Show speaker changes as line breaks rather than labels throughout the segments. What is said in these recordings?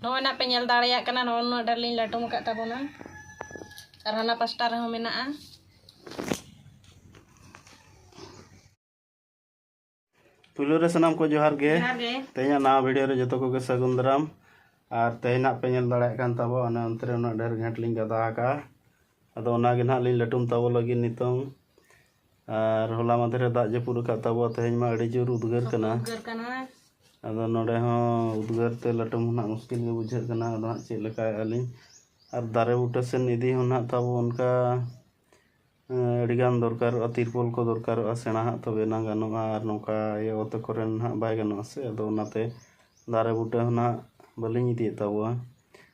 ᱱᱚᱜᱼᱚᱭ ᱱᱟᱜ ᱯᱮ ᱧᱮᱞ ᱫᱟᱲᱮᱭᱟᱜ ᱠᱟᱱᱟ ᱱᱚᱜᱼᱚ ᱱᱚᱣᱟ ᱰᱟᱹᱨ ᱞᱤᱧ ᱞᱟᱹᱴᱩᱢ ᱟᱠᱟᱫ ᱛᱟᱵᱚᱱᱟ ᱟᱨ ᱦᱟᱱᱟ ᱯᱟᱥᱴᱟ ᱨᱮᱦᱚᱸ ᱢᱮᱱᱟᱜᱼᱟ ᱯᱩᱭᱞᱩ ᱨᱮ ᱥᱟᱱᱟᱢ ᱠᱚ ᱡᱚᱦᱟᱨ ᱜᱮ ᱛᱮᱦᱮᱧᱟᱜ ᱱᱟᱣᱟ ᱵᱷᱤᱰᱤᱭᱳ ᱨᱮ ᱡᱚᱛᱚ ᱠᱚᱜᱮ ᱥᱟᱹᱜᱩᱱ ᱫᱟᱨᱟᱢ ᱟᱨ ᱛᱮᱦᱮᱧᱟᱜ ᱯᱮ ᱧᱮᱞ ᱫᱟᱲᱮᱭᱟᱜ ᱠᱟᱱ ᱛᱟᱵᱚ ᱚᱱᱮ ᱚᱱᱛᱮ ᱨᱮ ᱩᱱᱟᱹᱜ ᱰᱷᱮᱨ ᱜᱷᱮᱸᱴ ᱞᱤᱧ ᱜᱟᱫᱟ ᱟᱠᱟᱜᱼᱟ ᱟᱫᱚ ᱚᱱᱟᱜᱮ ᱱᱟᱦᱟᱜ ᱞᱤᱧ ᱞᱟᱹᱴᱩᱢ ᱛᱟᱵᱚ ᱞᱟᱹᱜᱤᱫ ᱱᱤᱛᱚᱝ ᱟᱨ ᱦᱚᱞᱟ ᱢᱟᱫᱷᱮᱨ ᱨᱮ ᱫᱟᱜ ᱡᱟᱹᱯᱩᱫ ᱟᱠᱟᱫ ᱛᱟᱵᱚᱣᱟ ᱛᱮᱦᱮᱧ ᱢᱟ ᱟᱹᱰᱤ ᱡᱳᱨ ᱩᱫᱽᱜᱟᱹᱨ ᱠᱟᱱᱟ ᱩᱫᱽᱜᱟᱹᱨ ᱠᱟᱱᱟ ᱟᱫᱚ ᱱᱚᱰᱮ ᱦᱚᱸ ᱩᱫᱽᱜᱟᱹᱨ ᱛᱮ ᱞᱟᱹᱴᱩᱢ ᱦᱚᱸ ᱱᱟᱜ ᱢᱩᱥᱠᱤᱞ ᱜᱮ ᱵᱩᱡᱷᱟᱹᱜ ᱠᱟᱱᱟ ᱟᱫᱚ ᱦᱟᱸᱜ ᱪᱮᱫ ᱞᱮᱠᱟᱭᱮᱫᱼᱟ ᱞᱤᱧ ᱟᱨ ᱫᱟᱨᱮ ᱵᱩᱴᱟᱹ ᱥᱮᱱ ᱤᱫᱤ ᱦᱚᱸ ᱱᱟᱜ ᱛᱟᱵᱚ ᱚᱱᱠᱟ ᱟᱹᱰᱤᱜᱟᱱ ᱫᱚᱨᱠᱟᱨᱚᱜᱼᱟ ᱛᱤᱨᱯᱚᱞ ᱠᱚ ᱫᱚᱨᱠᱟᱨᱚᱜᱼᱟ ᱥᱮᱬᱟ ᱦᱟᱸᱜ ᱛᱚᱵᱮ ᱮᱱᱟᱝ ᱜᱟᱱᱚᱜᱼᱟ ᱟᱨ ᱱᱚᱝᱠᱟ ᱤᱭᱟᱹ ᱚᱛ ᱠᱚᱨᱮᱱ ᱦᱟᱸᱜ ᱵᱟᱭ ᱜᱟᱱᱚᱜᱼᱟ ᱥᱮ ᱟᱫᱚ ᱚᱱᱟᱛᱮ ᱫᱟᱨᱮ ᱵᱩᱴᱟᱹ ᱦᱚᱸ ᱱᱟᱜ ᱵᱟᱹᱞᱤᱧ ᱤᱫᱤᱭᱮᱫ ᱛᱟᱵᱚᱣᱟ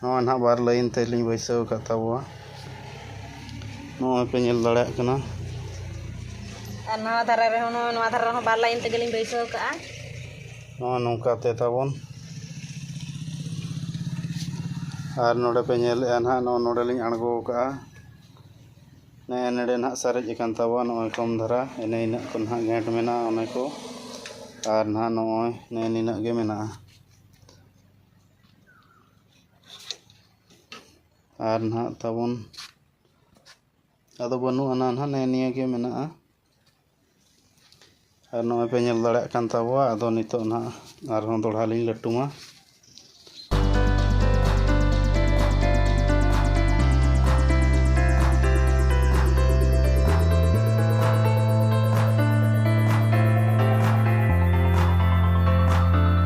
ᱱᱚᱜᱼᱚᱭ ᱱᱟᱦᱟᱜ ᱵᱟᱨ ᱞᱟᱭᱤᱱ ᱛᱮᱞᱤᱧ ᱵᱟᱹᱭᱥᱟᱹᱣ ᱟᱠᱟᱫ ᱛᱟᱵᱚᱣᱟ ᱱᱚᱜᱼᱚᱭ ᱯᱮ ᱧᱮᱞ ᱫᱟᱲᱮᱭᱟᱜ ᱠᱟᱱᱟ ᱟᱨ ᱱᱚᱣᱟ ᱫᱷᱟᱨᱮ ᱨᱮᱦᱚᱸ ᱱᱚᱜᱼᱚᱭ ᱱᱚᱣᱟ ᱫᱷᱟᱨᱮ ᱨᱮᱦᱚᱸ ᱵᱟᱨ ᱞᱟᱭᱤᱱ ᱛᱮᱜᱮᱞᱤᱧ ᱵᱟᱹᱭᱥᱟᱹᱣ ᱠᱟᱜᱼᱟ ᱱᱚᱜᱼᱚᱭ ᱱᱚᱝᱠᱟ ᱛᱮ ᱛᱟᱵᱚᱱ ᱟᱨ ᱱᱚᱰᱮ ᱯᱮ ᱧᱮᱞᱮᱫᱼᱟ ᱱᱟᱦᱟᱜ ᱱᱚᱜᱼᱚᱭ ᱱᱚᱰᱮ ᱞᱤᱧ ᱟᱬᱜᱚ ᱟᱠᱟᱫᱼᱟ ᱱᱮᱜᱼᱮ ᱱᱚᱰᱮ ᱱᱟᱦᱟᱜ ᱥᱟᱨᱮᱡ ᱟᱠᱟᱱ ᱛᱟᱵᱚᱣᱟ ᱱᱚᱜᱼᱚᱭ ᱠᱚᱢ ᱫᱷᱟᱨᱟ ᱮᱱᱮ ᱤᱱᱟᱹᱜ ᱠᱚ ᱱᱟᱦᱟᱜ ᱜᱷᱮᱸᱴ ᱢᱮᱱᱟᱜᱼᱟ ᱚᱱᱮ ᱠᱚ ᱟᱨ ᱱᱟᱦᱟᱜ ᱱᱚᱜᱼᱚᱭ ᱱᱮᱜᱼᱮ ᱱᱤᱱᱟᱹᱜ ᱜᱮ ᱢᱮᱱᱟᱜᱼᱟ ᱟᱨ ᱱᱟᱦᱟᱜ ᱛᱟᱵᱚᱱ ᱟᱫᱚ ᱵᱟᱹᱱᱩᱜ ᱟᱱᱟ ᱱᱟᱦᱟᱜ ᱱᱮᱜᱼᱮ ᱱᱤᱭᱟᱹ ᱜᱮ ᱢᱮᱱᱟᱜᱼᱟ ᱟᱨ ᱱᱚᱜᱼᱚᱭ ᱯᱮ ᱧᱮᱞ ᱫᱟᱲᱮᱭᱟᱜ ᱠᱟᱱ ᱛᱟᱵᱚᱣᱟ ᱟᱫᱚ ᱱᱤᱛᱚᱜ ᱱᱟᱦᱟᱜ ᱟᱨᱦᱚᱸ ᱫᱚᱲᱦᱟ ᱞᱤᱧ ᱞᱟᱹᱴᱩᱢᱟ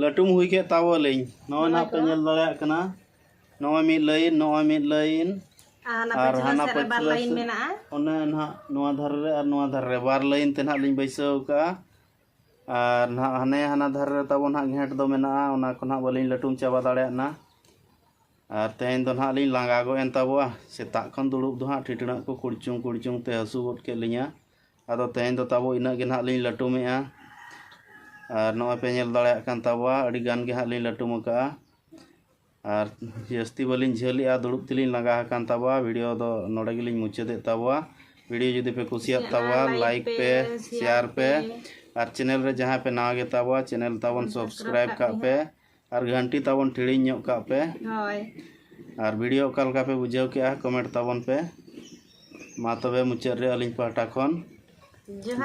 ᱞᱟᱹᱴᱩᱢ ᱦᱩᱭ ᱠᱮᱫ ᱛᱟᱵᱚᱞᱤᱧ ᱱᱚᱜᱼᱚᱭ ᱱᱟᱜ ᱯᱮ ᱧᱮᱞ ᱫᱟᱲᱮᱭᱟᱜ ᱠᱟᱱᱟ ᱱᱚᱜᱼᱚᱭ ᱢᱤᱫ ᱞᱟᱭᱤᱱ ᱱᱚᱜᱼᱚᱭ ᱢᱤᱫ ᱞᱟᱭᱤᱱ ᱟᱨ ᱦᱟᱱᱟ ᱯᱟᱹᱪᱞᱟᱹ ᱞᱟᱭᱤᱱ ᱢᱮᱱᱟᱜᱼᱟ ᱚᱱᱟ ᱱᱟᱜ ᱱᱚᱣᱟ ᱫᱷᱟᱨᱮ ᱨᱮ ᱟᱨ ᱱᱚᱣᱟ ᱫᱷᱟᱨᱮ ᱨᱮ ᱵᱟᱨ ᱞᱟᱭᱤᱱ ᱛᱮ ᱱᱟᱜ ᱞᱤᱧ ᱵᱟᱹᱭᱥᱟᱹᱣ ᱠᱟᱜᱼᱟ ᱟᱨ ᱱᱟᱜ ᱦᱟᱱᱮ ᱦᱟᱱᱟ ᱫᱷᱟᱨᱮ ᱨᱮ ᱛᱟᱵᱚᱱ ᱱᱟᱜ ᱜᱷᱮᱸᱴ ᱫᱚ ᱢᱮᱱᱟᱜᱼᱟ ᱚᱱᱟ ᱠᱚ ᱱᱟᱜ ᱵᱟᱹᱞᱤᱧ ᱞᱟᱹᱴᱩᱢ ᱪᱟᱵᱟ ᱫᱟᱲᱮᱭᱟᱜ ᱱᱟ ᱟᱨ ᱛᱮᱦᱮᱧ ᱫᱚ ᱱᱟᱦᱟᱜ ᱞᱤᱧ ᱞᱟᱸᱜᱟ ᱜᱚᱫ ᱮᱱ ᱛᱟᱵᱚᱣᱟ ᱥᱮᱛᱟᱜ ᱠᱷᱚᱱ ᱫᱩᱲᱩᱵ ᱫᱚ ᱦᱟᱸᱜ ᱴᱷᱤᱴᱲᱟᱹᱜ ᱠᱚ ᱠᱩᱲᱪᱩᱝ ᱠᱩᱲᱪᱩᱝ ᱛᱮ ᱦᱟᱹᱥᱩ ᱜᱚᱫ ᱠᱮᱫ ᱞᱤᱧᱟ ᱟᱫᱚ ᱛᱮᱦᱮᱧ ᱫᱚ ᱛᱟᱵᱚ ᱤᱱᱟᱹᱜ ᱜᱮ ᱱᱟᱦᱟᱜ ᱞᱤᱧ ᱞᱟᱹᱴᱩᱢᱮᱜᱼᱟ ᱟᱨ ᱱᱚᱜᱼᱚᱭ ᱯᱮ ᱧᱮᱞ ᱫᱟᱲᱮᱭᱟᱜ ᱠᱟᱱ ᱛᱟᱵᱚᱣᱟ ᱟᱹᱰᱤ ᱜᱟᱱ ᱜᱮ ᱦᱟᱸᱜ ᱞᱤᱧ ᱞᱟᱹᱴᱩᱢ ᱟᱠᱟᱫᱼᱟ ᱟᱨ ᱡᱟᱹᱥᱛᱤ ᱵᱟᱹᱞᱤᱧ ᱡᱷᱟᱹᱞᱮᱜᱼᱟ ᱫᱩᱲᱩᱵ ᱛᱮᱞᱤᱧ ᱞᱟᱸᱜᱟ ᱟᱠᱟᱱ ᱛᱟᱵᱚᱣᱟ ᱵᱷᱤᱰᱤᱭᱳ ᱫᱚ ᱱᱚᱰᱮ ᱜᱮᱞᱤᱧ ᱢᱩᱪᱟᱹᱫᱮᱫ ᱛᱟᱵᱚᱣᱟ ᱵᱷᱤᱰᱤᱭᱳ ᱡᱩᱫᱤ ᱯᱮ ᱠᱩᱥᱤᱭᱟᱜ ᱛᱟᱵᱚᱣᱟ ᱞᱟᱭᱤᱠ ᱯᱮ ᱥᱮᱭᱟᱨ ᱯᱮ ᱟᱨ ᱪᱮᱱᱮᱞ ᱨᱮ ᱡᱟᱦᱟᱸᱭ ᱯᱮ ᱱᱟᱣᱟ ᱜᱮᱛᱟᱵᱚᱣᱟ ᱪᱮᱱᱮᱞ ᱛᱟᱵᱚᱱ ᱥᱟᱵᱥᱠᱨᱟᱭᱤᱵᱽ ᱠᱟᱜ ᱯᱮ ᱟᱨ ᱜᱷᱟᱱᱴᱤ ᱛᱟᱵᱚᱱ ᱴᱤᱲᱤᱧ ᱧᱚᱜ ᱠᱟᱜ ᱯᱮ ᱦᱳᱭ ᱟᱨ ᱵᱷᱤᱰᱤᱭᱳ ᱚᱠᱟ ᱞᱮᱠᱟ ᱯᱮ ᱵᱩᱡᱷᱟᱹᱣ ᱠᱮᱜᱼᱟ ᱠᱚᱢᱮᱱᱴ ᱛᱟᱵᱚᱱ ᱯᱮ ᱢᱟ ᱛᱚᱵᱮ ᱢᱩᱪᱟᱹᱫ ᱨᱮ ᱟᱹᱞᱤᱧ ᱯᱟᱦᱴᱟ ᱠᱷᱚᱱ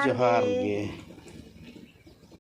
ᱡᱚᱦᱟᱨ ᱜᱮ